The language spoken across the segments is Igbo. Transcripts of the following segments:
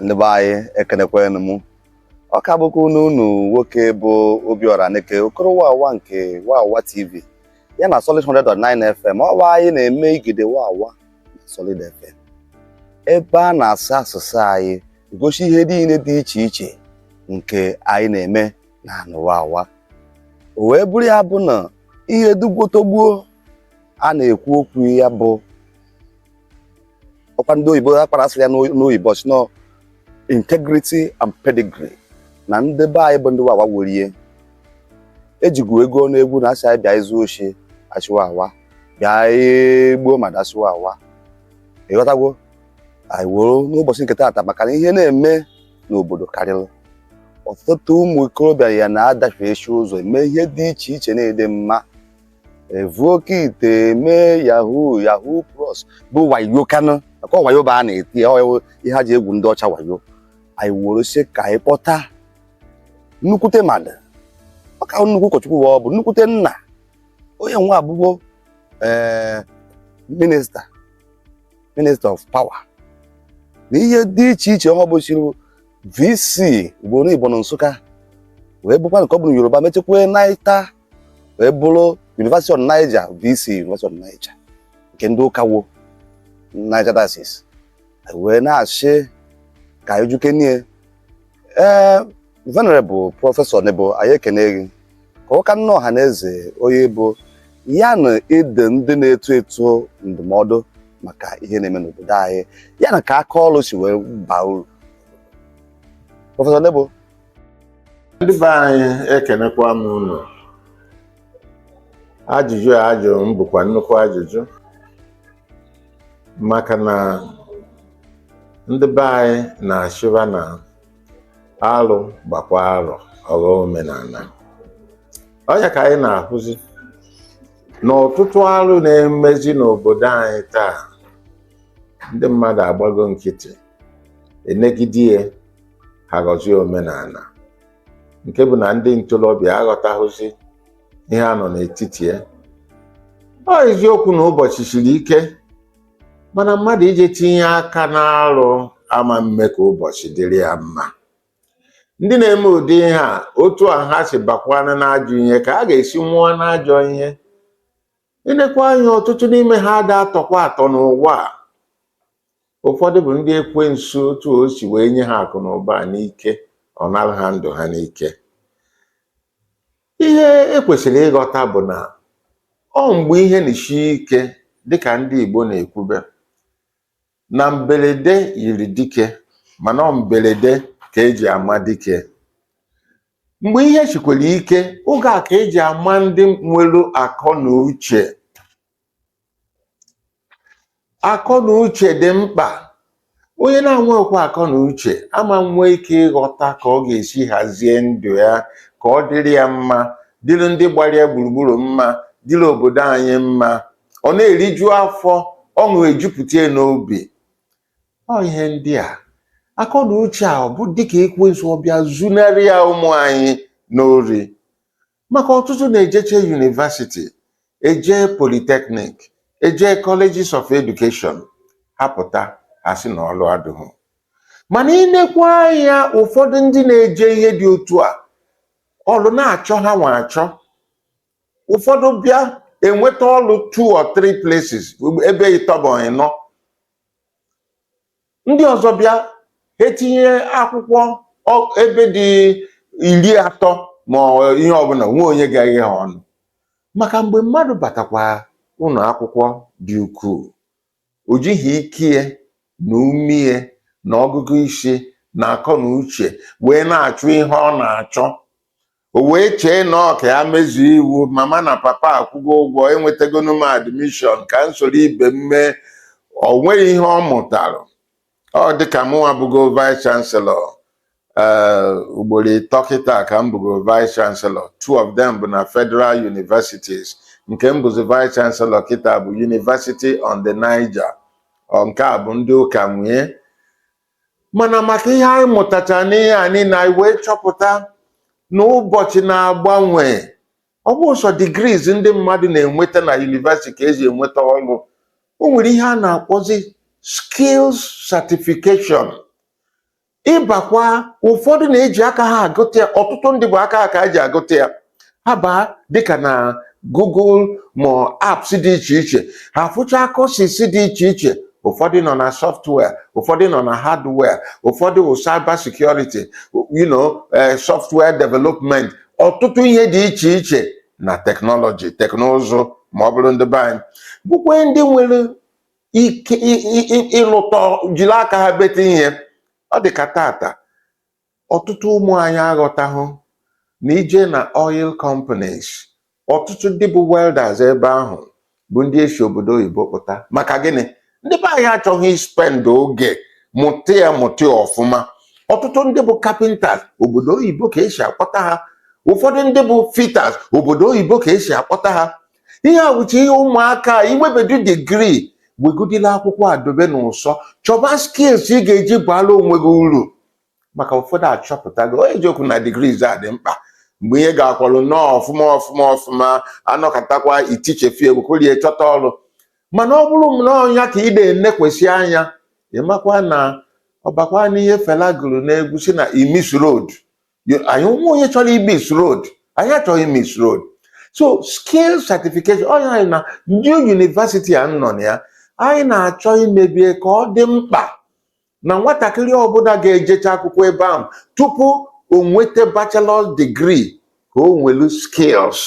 ndị be anyị ekenekwanụ m ọ ka bụkwa nwa unu nwoke bụ Obiora Aneke Okoro Wawa nke Wawa TV ya na Solid 100.9 FM ọwa anyị na-eme igide Wawa na Solid FM ebe a na-asụ asụsụ anyị gosi ihe niile dị iche iche nke anyị na-eme na anị Wawa o wee bụrụ ya bụ na ihe dugwotogbuo a na-ekwu okwu ya bụ ọkwa ndị oyibo ha kpara sịrị ya n'oyibo sị na ọ integrity and pedigree na ndị be anyị bụ ndị wawa worie ejigwu ego ọnụ egwu na a sị anyị bịa zuo oshi a sị wawa bịa gbuo mmadụ a sị wawa ị ghọtagwo anyị woro n'ụbọchị nke taata maka na ihe na-eme n'obodo karịrị ọtụtụ ụmụ ikorobịa ya na-adafe eshi ụzọ eme ihe dị iche iche na-adịghị mma evu oke ite eme yahoo yahoo plus bụ wayo kanụ maka wayo bụ a na-eti ya, ọ ihe ha ji egwu ndị ọcha wayo anyị were sị ka anyị kpọta nnukwute mmadụ ọ ka nnukwu ụkọchukwu wa ọ bụ nnukwute nna onye nwa abụgo ee minista minista of power na ihe dị iche iche ọ bụsịrị vc ugboro ịbọ na nsụka wee bụkwa nke ọ bụ na yoruba mechekwa nata wee bụrụ University of Niger VC University of Niger nke ndị ụka wo Niger Diocese wee na-achị ka anyị je kenee ee venerable prọfesọ nebo anyị ekene gị ka ị kaara ọha na eze onye ị bụ ya na ịdụ ndị na-eto eto ndụmọdụ maka ihe na-eme n'obodo anyị ya na ka aka ọrụ si wee baa uru prọfesọ nebo ndị be anyị ekenekwa m unu ajụjụ a a jụrụ m bụkwa nnukwu ajụjụ maka na ndị be anyị na-asịkwa na alụ gbakwa arọ ọ ghọọ omenala ọ ya ka anyị na-ahụzi na ọtụtụ alụ na-emezi n'obodo anyị taa ndị mmadụ agbago nkịtị enegide ya ha ghọzie omenala nke bụ na ndị ntorobịa aghọtahụzi ihe a nọ n'etiti ya ọ eziokwu na ụbọchị siri ike mana mmadụ ije tinye aka n'alụ ama mme ka ụbọchị dịrị ya mma ndị na-eme ụdị ihe a otu a ha si bakwana n'ajọ ihe ka ha ga-esi nwụọ n'ajọ ihe i nekwa anya ọtụtụ n'ime ha ada atọkwa atọ n'ụwa a Ụfọdụ bụ ndị ekwensu otu o si wee nye ha akụ na ụba n'ike, ọ nara ha ndụ ha n'ike. Ihe e kwesịrị ịghọta bụ na ọ mgbe ihe na-esi ike dịka ndị Igbo na-ekwube na mberede nyiri dike mana ọ mberede ka eji ama dike. Mgbe ihe sikwere ike, oge a ka eji ama ndị nwere akọ na uche akọ na uche dị mkpa onye na-enwekwa akọ na uche ama nwee ike ịghọta ka ọ ga-esi hazie ndụ ya ka ọ dịrị ya mma dịrị ndị gbara ya gburugburu mma dịrị obodo anyị mma ọ na-eriju afọ ọṅụ ejupụta ya n'obi ọ ihe ndị a akọ na uche a ọ bụ dịka ekwensu ọ bịa zunarị ya ụmụ anyị n'ori maka ọtụtụ na-ejeche university eje polytechnic eje colleges of education ha pụta asị na ọlụ adịghị mana i nekwa anya ụfọdụ ndị na-eje ihe dị otu a ọlụ na-achọ hanwa achọ ụfọdụ bịa enweta ọlụ two or three places ebe ịtọ ebe ịnọ ndị ọzọ bịa ha etinye akwụkwọ ọ- ebe dị iri atọ ma ọ- ihe ọbụna enweghị onye ga-eghe ha ọnụ maka mgbe mmadụ batakwa ụlọ akwụkwọ dị ukwuu o jighị ike ya na ume ya na ọgụgụ isi na akọ na uche wee na-achụ ihe ọ na-achọ o wee chee na ọ ka ya mezuo iwu mama na papa akwụgo ụgwọ enwetagonu m admission ka m soro ibe m mee o nweghị ihe ọ mụtara ọ dịka mụnwa bụgo vice chancellor ee ugboro ịtọ kịta ka m bụgo vice chancellor two of them bụ na federal universities nke m bụzi vice chancellor kịta bụ university on the niger ọ nke a bụ ndị ụka nwee mana maka ihe anyị mụtacha n'ihe a niile anyị wee chọpụta na ụbọchị na-agbanwe ọ bụghị sọ degrees ndị mmadụ na-enweta na university ka eji enweta ọrụ o nwere ihe a na-akpọzi skills certification ị bakwa ụfọdụ na-eji aka ha agụta ya ọtụtụ ndị bụ aka ha ka ha ji agụta ya ha baa dịka na Google ma apps dị iche iche ha fụchaa courses dị iche iche ụfọdụ nọ na software ụfọdụ nọ na hardware ụfọdụ wụ cyber security you know eh, software development ọtụtụ ihe dị iche iche na technology teknụzụ ma ọ bụrụ ndị be anyị bụkwa ndị nwere ike ị- ị- ị- ịlụta jiri aka ha bete ihe ọ dị ka tata ọtụtụ ụmụ anyị aghọtahụ na ị jee na oil companies ọtụtụ ndị bụ welders ebe ahụ bụ ndị e si obodo oyibo kpọta maka gịnị ndị be anyị achọghị ispend oge mụta ya mụta ya ọfụma ọtụtụ ndị bụ carpenters obodo oyibo ka esi akpọta ha ụfọdụ ndị bụ fitters obodo oyibo ka esi akpọta ha ihe a wụcha ihe ụmụaka inwebedu degree wegudila akwụkwọ a dobe n'ụsọ chọba skills ị ga-eji baala onwe gị uru maka ụfọdụ achọpụtago eziokwu na degrees a dị mkpa mgbe ihe gakwalụ nnọọ ọfụma ọfụma ọfụma a nọkatakwa itichefi egwu korie chọta ọrụ mana ọ bụrụ nnọọ ya ka ị na-enekwesị anya ị makwa na ọ bakwa n'ihe fela gụrụ n'egwu sị na he miss road anyị nwa onye chọrọ imiss road anyị achọghị imiss road so skill certification ọ anyị na new university a m nọ na ya anyị na-achọ imebe ya ka ọ dị mkpa na nwatakịrị ọbụla ga-ejecha akwụkwọ ebe ahụ tupu o nweta bachelor's degree ka o nwelu skills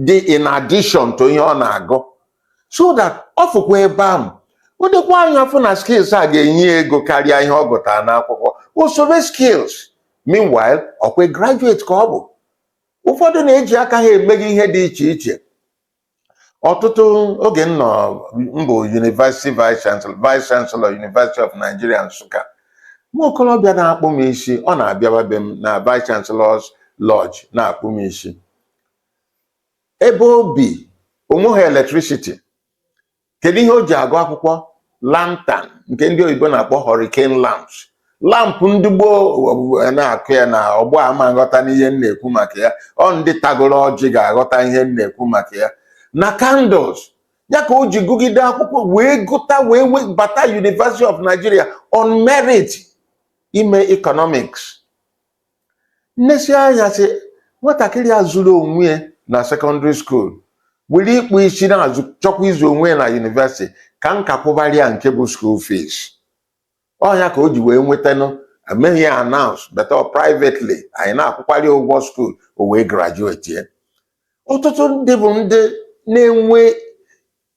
dị in addition to ihe ọ na-agụ so that ọ fụkwa ebe ahụ o nekwa anya afụ na skills a ga-enye ya ego karịa ihe ọ gụtara n'akwụkwọ o sobe skills meanwhile ọ kwa graduate ka ọ bụ ụfọdụ na-eji aka ha emega ihe dị iche iche ọtụtụ oge m nọ m bụ University Vice Vice Chancellor University of Nigeria Nsụka nwa okorobịa na-akpụ m isi ọ na-abịawa be m na Vice Chancellor's Lodge na-akpụ m isi ebe o bi o nweghị electricity kedu ihe o ji agụ akwụkwọ lantern nke ndị oyibo na-akpọ hurricane lamps lampụ ndị gboo na-akụ ya na ọgbọ a ama aghọtanụ ihe m na-ekwu maka ya ọ ndị tagoro ọjị ga-aghọta ihe m na-ekwu maka ya na candles ya ka o ji gụgide akwụkwọ wee gụta wee bata University of Nigeria on merit ime economics m nesia anya sị nwatakịrị a zụrụ onwe ya na secondary school were ịkpụ isi na-azụ chọkwa ịzụ onwe ya na university ka m ka kwụbara ya nke bụ school fees ọ ya ka o ji wee nwetanụ emeghị ya announce but privately anyị na-akwụkwara ya ụgwọ school o wee graduatie ọtụtụ ndị bụ ndị na-enwe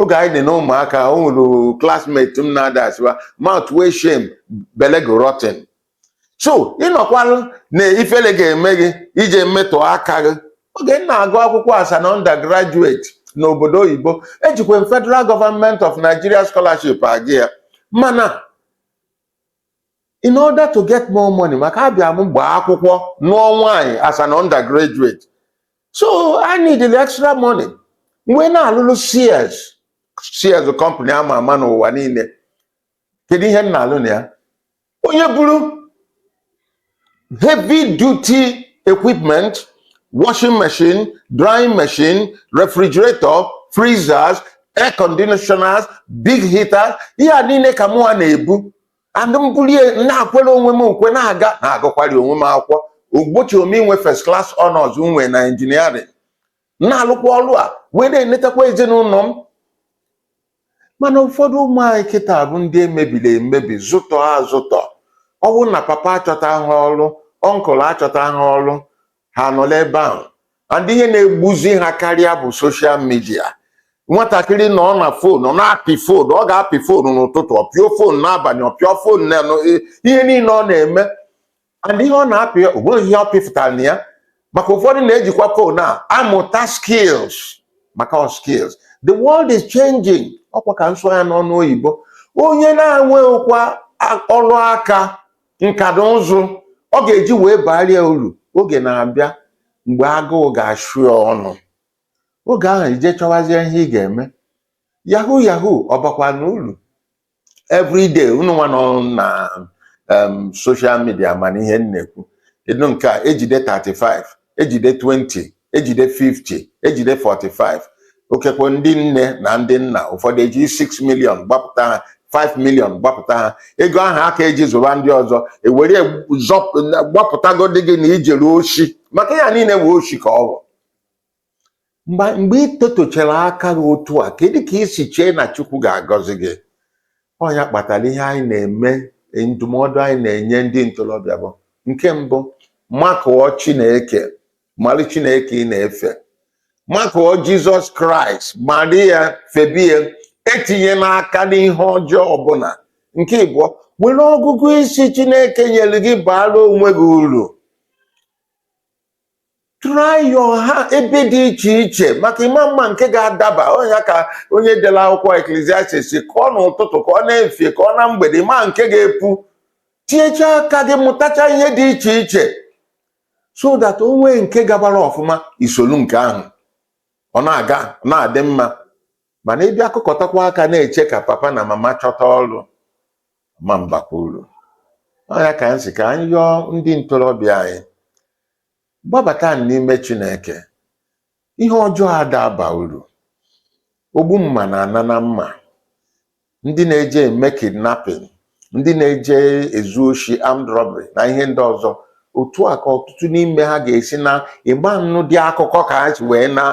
oge anyị dị na ụmụaka o nwere classmate m na-ada asịwa mouth wey shame belle go rotten so ị nọkwalụ na ifele ga-eme gị ije metọ aka gị oge m na-agụ akwụkwọ as an undergraduate n'obodo oyibo ejikwa m federal government of nigeria scholarship agụ ya mana in order to get more money maka abịa m gbaa akwụkwọ nụọ nwaanyị as an undergraduate so I need the extra money m wee na-alụlụ Sears Sears company ama ama n'ụwa niile kedu ihe m na-alụ na ya onye buru heavy duty equipment washing machine drying machine refrigerator freezers air conditioners big heaters ihe a niile ka mụwa na-ebu and m bulie na-ekwere onwe m ukwe na-aga na-agụkwari onwe m akwụkwọ o gbochiro m inwe first class honors m nwe na engineering na-alụkwa ọrụ a wee na-enetakwa ezinụlọ m mana ụfọdụ ụmụ anyị kịta bụ ndị e mebiri emebi zụtọ azụtọ ọ bụrụ na papa achọta ha ọrụ uncle achọta ha ọrụ ha nọla ebe ahụ and ihe na-egbuzi ha karịa bụ social media nwatakịrị nọ na phone ọ na-apị phone ọ ga-apị phone n'ụtụtụ ọ pịa phone n'abalị ọ pịa phone na ihe niile ọ na-eme and ihe ọ na-apị o nweghị ihe ọ pịfụtara na ya maka ụfọdụ na-ejikwa phone a amụta skills maka ọ skills the world is changing ọ kwa ka m sụọ ya n'onu oyibo onye na-enweghịkwa a- ọrụ aka nka na ụzụ ọ ga-eji wee baara ya uru oge na-abịa mgbe agụụ ga-achụ ya ọnụ oge ahụ i jee chọwazie ihe ị ga-eme yahoo yahoo ọ bakwa na uru everyday unu nwa nọ na em, social media mana ihe m na-ekwu ị nụ nke a ejide 35 ejide 20 ejide 50 ejide 45 ikekwe ndị nne na ndị nna ụfọdụ eji 6 million gbapụta ha 5 million gbapụta ha ego ahụ a ka-eji zụba ndị ọzọ e were gbapụtagodi gị na i jere oshi maka ya niile wee oshi ka ọ bụ mgbe ị tetọchara aka gị otu a kedu ka i si chee na chukwu ga-agọzi gị ọ ya kpatara ihe anyị na-eme ndụmọdụ anyị na-enye ndị ntorobịa bụ nke mbụ makụọ chineke mara chineke ị na-efe makụọ jizọs kraịst mara ya febe ya etinyena aka n'ihe ọjọọ ọbụla nke ịbụọ were ọgụgụ isi chineke nyere gị baara onwe gị uru try your hand ebe dị iche iche maka ị ma-ama nke ga-adaba ọ ya ka onye dere akwụkwọ eklesiastis ka ọ n'ụtụtụ ka ọ n'efifie ka ọ na mgbede ị ma nke ga-epu tinyecha aka gị mụtacha ihe dị iche iche so that o nwee nke gabara ọfụma i solu nke ahụ ọ na-aga na-adị mma mana ị bịa kụkọtakwa aka na-eche ka papa na mama chọta ọrụ ma mbakwa uru ọ ya ka m sị ka anyị yọọ ndị ntorobịa anyị gbabata n'ime Chineke ihe ọjọọ ada aba uru ogbu mma na-ana na mma ndị na-eje eme kidnapping ndị na-eje ezu oshi armed robbery na ihe ndị ọzọ otu a ka ọtụtụ n'ime ha ga-esi naa ị ma nnụdị akụkọ ka ha si wee naa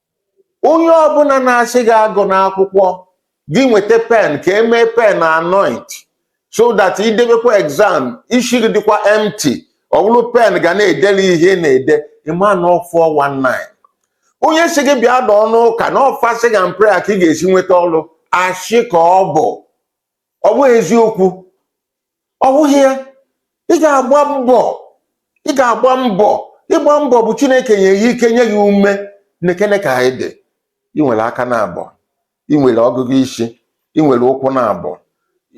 onye ọbụla na-asị gị agụna akwụkwọ gị nweta pen ka e mee pen anoint so that i debekwa exam isi gị dịkwa empty ọ bụrụ pen ga na-edere ihe ị na-ede ị ma na ọ 419 onye sị gị bịa dọọ n'ụka na ọ fasting and prayer ka ị ga-esi nweta ọrụ ashị ka ọ bụ ọ bụghị eziokwu ọ bụghị ya ị ga-agba mbọ ị ga-agba mbọ ịgba mbọ bụ chineke nye gị ike nye gị ume nekene ka ị dị ị nwere aka naabọ ị nwere ọgụgụ isi ị nwere ụkwụ naabọ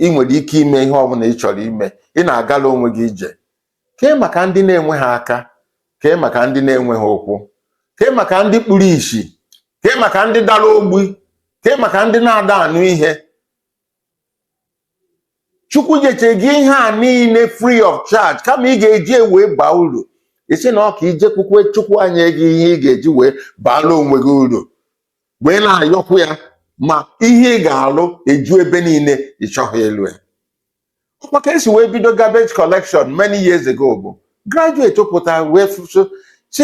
ị nwere ike ime ihe ọbụla ị chọrọ ime ị na-agala onwe gị ije kee maka ndị na-enweghị aka kee maka ndị na-enweghị ụkwụ kee maka ndị kpuru isi kee maka ndị dara ogbi kee maka ndị na-ada anụ ihe chukwu nyechere gị ihe a niile free of charge kama ị ga-eji wee baa uru ị sị na ọ ka i jekwukwe chukwu enye gị ihe ị ga-eji wee baala onwe gị uru wee na-ayọkwu ya ma ihe ị ga-alụ eju ebe niile ị chọghị ịlụ ya ọkwa ka esi wee bido garbage collection many years ago bụ graduate pụta wee fụ sị chi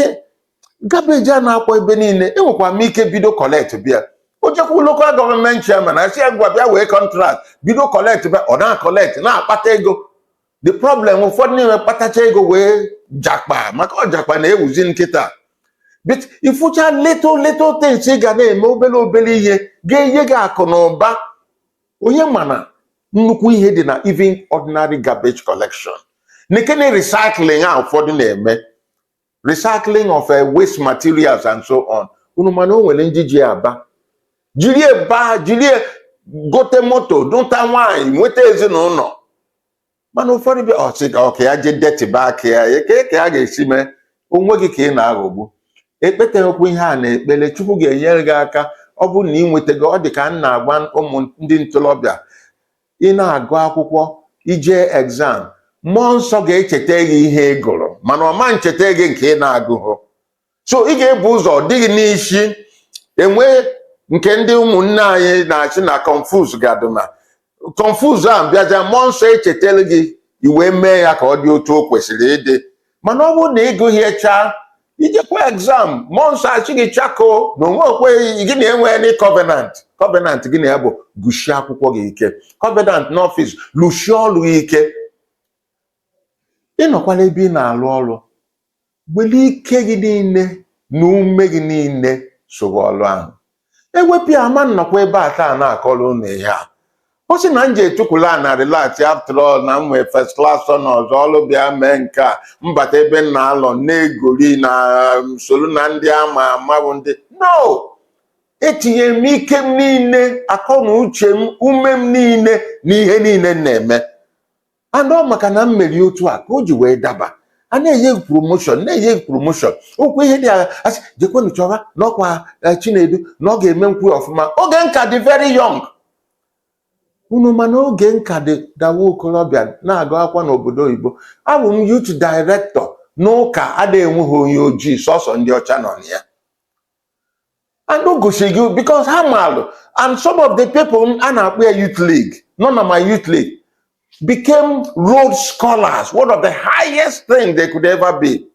garbage a na-akpọ ebe niile enwekwa m ike bido collectibe ya o jekwu local government chairman a sị ya ngwa bịa wee contract bido collectibe ya ọ na-collect na-akpata ego the problem ụfọdụ niile kpatacha ego wee japa maka ọ japa na-ewuzi kịta but ị fụcha little little things ị ga na-eme obere obere ihe ga-enye gị akụ na ụba onye ma na nnukwu ihe dị na even ordinary garbage collection nekene recycling a ụfọdụ na-eme recycling of uh, waste materials and so on unu ma na o nwere ndị ji ya baa jiri ya baa jiri ya gote moto duta nwaanyị nweta ezinụlọ mana ụfọdụ bịa ọ sị ka ọ ka ya jee detịba aka ya kee ka ya ga-esi mee onwe gị ka ị na-aghọgbu ekpeteghịkwa ihe a n'ekpere chukwu ga-enyere gị aka ọ bụrụ na ị nwetago ọ dị ka m na-agwa ụmụ ndị ntorobịa ị na-agụ akwụkwọ i je exam mmụọ nsọ ga-echeta gị ihe ị gụrụ mana ọ ma ncheta gị nke ị na-agụghụ so ị ga-ebu ụzọ dịghị n'isi e nwee nke ndị ụmụnne anyị na-asị na confuse gadụna confuse a bịaja mmụọ nsọ echetara gị i wee mee ya ka ọ dị otu o kwesịrị ịdị mana ọ bụrụ na ị gụghị ihe chaa i jekwa exam mmụọ nsọ asị gị chako na onwe okwe gị na enwe any covenant covenant gị na ya bụ gụsie akwụkwọ gị ike covenant n'ọfịs lụsie ọrụ gị ike ị nọkwala ebe ị na-alụ ọrụ were ike gị niile na ume gị niile sowe ọrụ ahụ ewepụ ya ama m nọkwa ebe a taa na-akọrọ ụnụ ihe a ọ sị na m jee tukwu ala na-relax after all na m nwee first class na ọzọ ọrụ bịa mee nke a m bata ebe m na-alụ na-egori na m soro na ndị ama ama bụ ndị no etinyere m ike m niile akọ na uche m ume m niile na ihe niile m na-eme and ọ maka na m mere otu a ka o ji wee daba a na-enye gị promoshọn na-enye gị promoshọn ọkwa ihe dị a ga-asị jekwenu chọba n'ọkwa eh, chinedu na ọ ga-emenwu ya ọfụma oge m ka dị very young unu ma na oge m ka dị nwa okorobịa na-agụ akwụkwọ n'obodo oyibo abụ m youth director n'ụka adịghị enweghị onye ojii sọsọ ndị ọcha nọ na ya and o gosiri gị because ha maalụ and some of the people a na-akpọ ya youth league nọ na my youth league became Rhodes scholars one of the highest thing they could ever be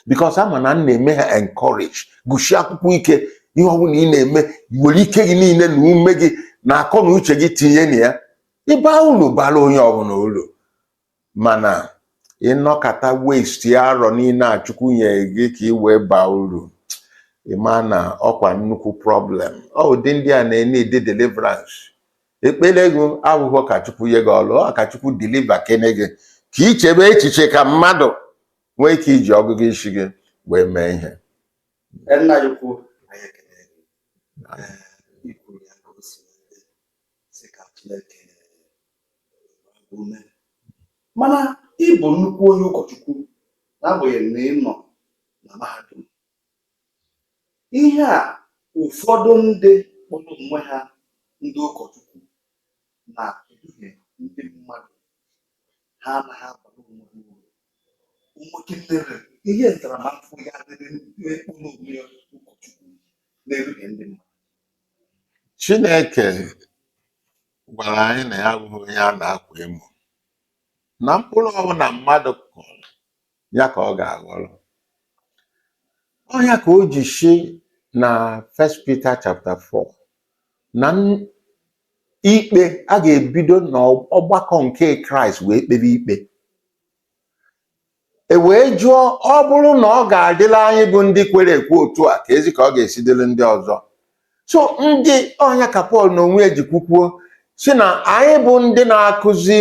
because ha ma na m na-eme ha encourage gụsie akwụkwọ ike ihe ọ bụla ị na-eme were ike gị niile na ume gị na akọ na uche gị tinye na ya ị baa ulu bara onye ọbụla ulu Mana ị nọkata waste arọ niile a Chukwu nyere gị ka i wee baa uru, ị maa na ọkwa nnukwu problem. Ọ ụdị ndị a na-eneed deliverance. Ekpere gị abụghị ka Chukwu nye gị ọrụ, ọ ka Chukwu deliver kene gị ka i chebe echiche ka mmadụ nwee ike iji ọgụgụ isi gị wee mee ihe. Nna anyị ukwu, anyị ekele gị. Ee, i kwuru ya ka o si wee dị. sị ka Chineke mee mana ị bụ nnukwu onye ụkọchukwu n'agbanyeghị na ị nọ na mahadum ihe a ụfọdụ ndị kpọrọ onwe ha ndị ụkọchukwu na-eduhie ndị mmadụ ha anaghị abara onwe ha uru o nwekwara ihe ntaramahụhụ ya-adịrị onye kpọrọ onwe ya ụkọchukwu na-eduhie ndị mmadụ Chineke gwara anyị na ya abụghị onye a na-akwa emo. Na mkpụrụ ọbụla mmadụ kụrụ, ya ka ọ ga-aghọrọ. Ọ ya ka o ji sị na First Peter chapter 4 na n- ikpe a ga-ebido n'ọgbakọ nke Kraịst wee kpebe ikpe. E wee jụọ, ọ bụrụ na ọ ga-adịla anyị bụ ndị kwere ekwe otu a keezi ka ọ ga-esi dịrị ndị ọzọ. So ndị ọ nya ka Pọl n'onwe ya ji kwukwuo sị na anyị bụ ndị na-akụzi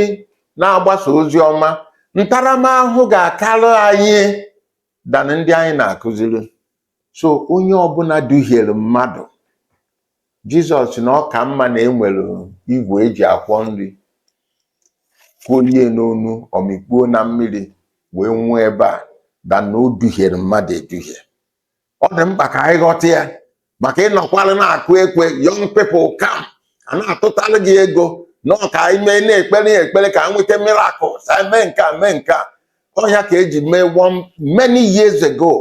na-agbasa ozi ọma ntaramahụhụ ga-akarị anyị than ndị anyị na-akụziri. so onye ọbụla duhiere mmadụ jizọs sị na ọ ka mma na e were igwe e ji akwọ nri kolie n'onu o mikpuo na mmiri wee nwụọ ebe a than na o duhiere mmadụ eduhie ọ dị mkpa ka anyị ghọta ya maka ị nọkwara na-akụ ekwe young people come a na-atụtara gị ego na ọ ka anyị mee na-ekpere ya ekpere ka nweta miracles anyị mee nke a mee nke a ọ ya ka e ji mee one many years ago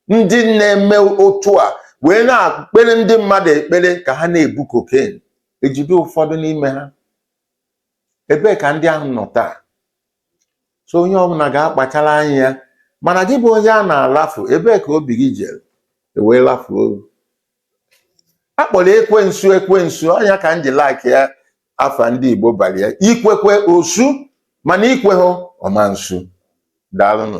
ndị na-eme otu a wee na-ekpere ndị mmadụ ekpere ka ha na-ebu cocaine e jide ụfọdụ n'ime ha ebee ka ndị ahụ nọ taa so onye ọbụla ga-akpachara anya ya mana gị bụ onye a na-alafu ebee ka obi gị jere e wee lafuo a kpọrọ ekwensu ekwensu ọ nya ka m ji like ya afa ndị Igbo bali ya i kwe ekwe o su mana i kweghị ọ ma nsu daalụnụ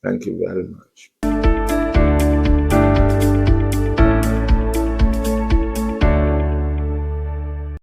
thank you very much